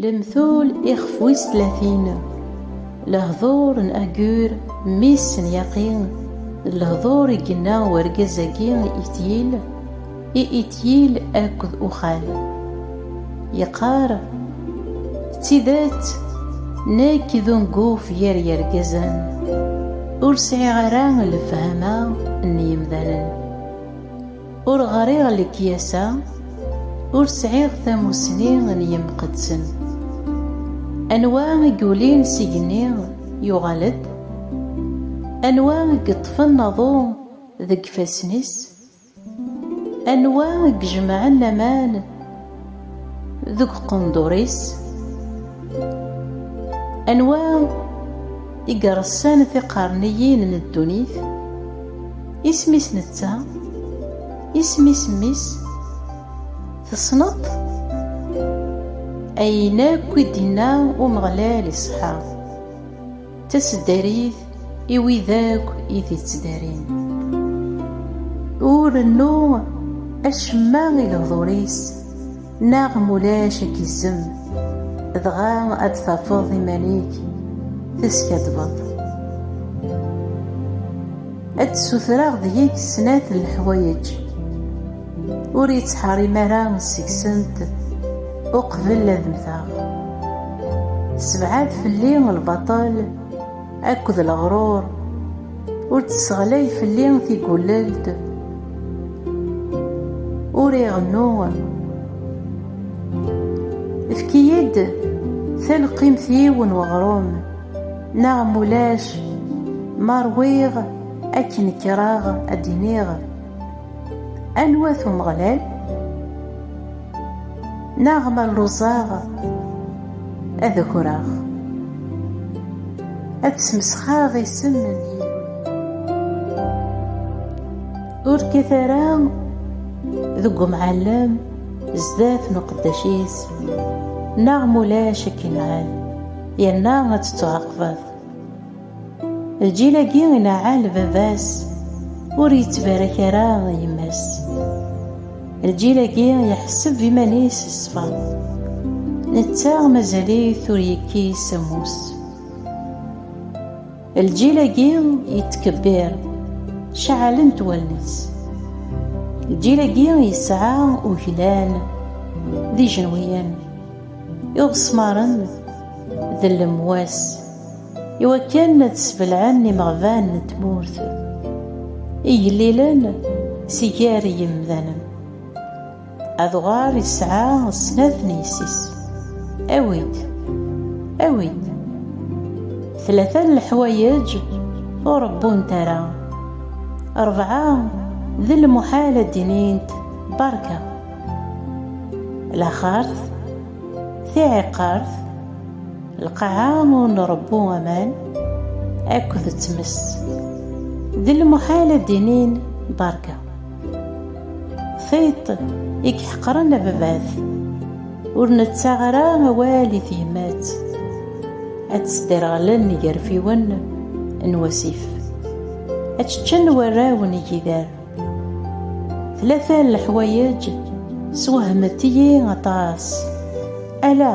Lemtul ixef wis tlatin, lehdur n Agur mmi-s n Yaqi, d lehdur i yenna urgaz-agi i Ityil, i Ityil akked Uxal. Yeqqar, D tidet, nekk d unguf gar yergazen, ur sɛiɣ ara lefhama n yemdanen. Ur ɣriɣ lekyasa, ur sɛiɣ tamusni n yemqeddsen. Anwa i yulin s igenni yuɣal-d? Anwa i yeṭṭfen aḍu deg ifassen-is? Anwa i ijemɛen aman deg uqendur-is anwa i iressan tiqerniyin n ddunit isem-is netta isem-is mmi-s tessneḍ ayen akk i d-inna Umeɣlal iṣeḥḥa D taseddarit i wid akk i t-ittdarin. Ur rennu acemma i lehdur-is, neɣ ma ulac ad k-izzem, dɣa ad d-tafeḍ iman-ik teskaddbeḍ. Ad d-ssutreɣ deg-k snat n leḥwayeǧ. Ur yettḥerim ara seg-sent uqbel ad mteɣ. Sebɛed fell-i lbaṭel akked leɣrur, ur d-sseɣlay fell-i tigullelt. Ur iɣennu. Efk-iyi-d talqimt-iw n weɣrum, neɣ m ulac ma ṛwiɣ akken kkreɣ ad d-iniɣ. Anwa-t Umeɣlal? Neɣ ma lluẓeɣ ad akreɣ, ad smesxeɣ isem n Yillu-nni. Ur kkat ara deg umɛellem zdat n uqeddac-is, neɣ ma ulac ad k-inɛel, yerna ad tettuɛaqbeḍ. Lǧil-agi ilaɛɛal baba-s, ur yettbarak ara yemma-s. Lǧil-agi iḥesseb iman-is ṣṣfa, netta mazal-it ur yekkis ammus. Lǧil-agi yettkebbir, ceɛɛlent wallen-is. Lǧil-agi yesɛa uglan d ijenwiyen, iɣesmaren d lemwas. i wakken ad sbelɛen imeɣban n tmurt igellilen si gar yimdanen. Adɣar yesɛa snat n yessi-s. Awi-d, awi-d. Tlata n leḥwayeǧ ur rebbunt ara. Rebɛa d lmuḥal ad d-inint berka. Laxert, tiɛiqert, lqaɛa ur nṛebbu aman akked tmes d lmuḥal ad d-inin berka tiṭ i iḥeqren ababat ur nettaɣ ara awal i tyemmat ad tesderɣlen igerfiwen n wasif ad ččen warraw n igider tlata n leḥwayeǧ swehmet-iyi aṭas ala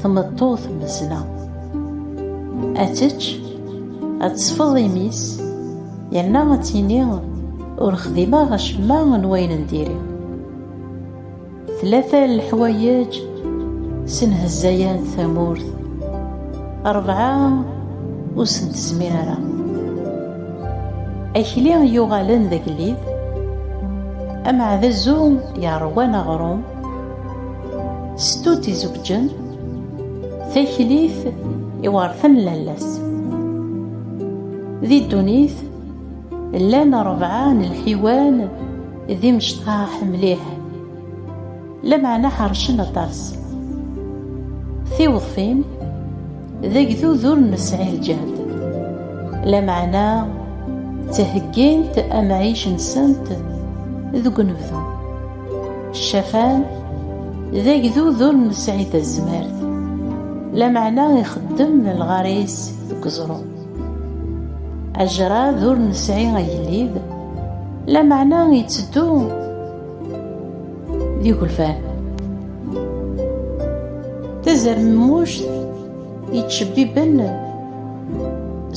Tmeṭṭut mmezla. Ad tečč, ad tesfeḍ imi-s, yerna ad tini ur xdimeɣ acemma n wayen n diri. Tlata n leḥwayeǧ senhezzayent tamurt, rebɛa ur sen-tezmir ara. Akli yuɣalen d agellid, ameɛdazu yeṛwan aɣrum, Stut izewǧen, taklit i werten lalla-s. Di ddunit, llan rebɛa n lḥiwan d imecṭaḥ mliḥ, lameɛna ḥercen aṭas. Tiweḍfin, d agdud ur nesɛi lǧehd, lameɛna ttheggint amɛic-nsent deg unebdu. Ccafan d agdud ur nesɛi tazmert, lameɛna ixeddem lɣar-is deg uẓru. Ajrad ur nesɛi agellid, lameɛna itteddu d igelfan. Tazermuct yettcebbiben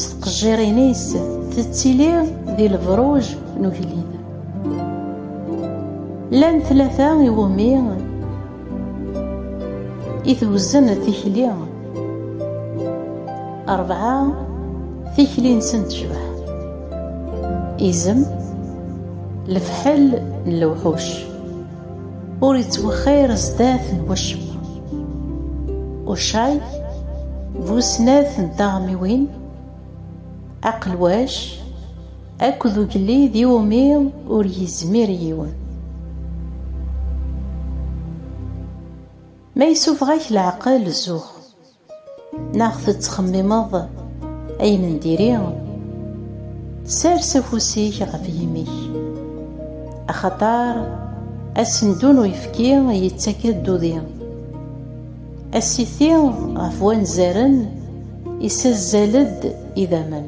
s tqejjirin-is tettili di lebruj n ugellid. Llan tlata iwumi i twezzen tikli, rebɛa tikli-nsen tecbeḥ, izem, lefḥel n lewḥuc, ur ittwexxir zdat n wacemma, ucay bu snat n taɣmiwin, aqelwac, Akked ugellid iwumi ur yezmir yiwen. Ma yessuffeɣ-ak leɛqel zux. Neɣ tettxemmimeḍ ayen n diri, sers afus-ik ɣef yimi-k. Axaṭer asendu n uyefki yettak-d udi. Asiti ɣef wanzaren yessazzal-d idammen.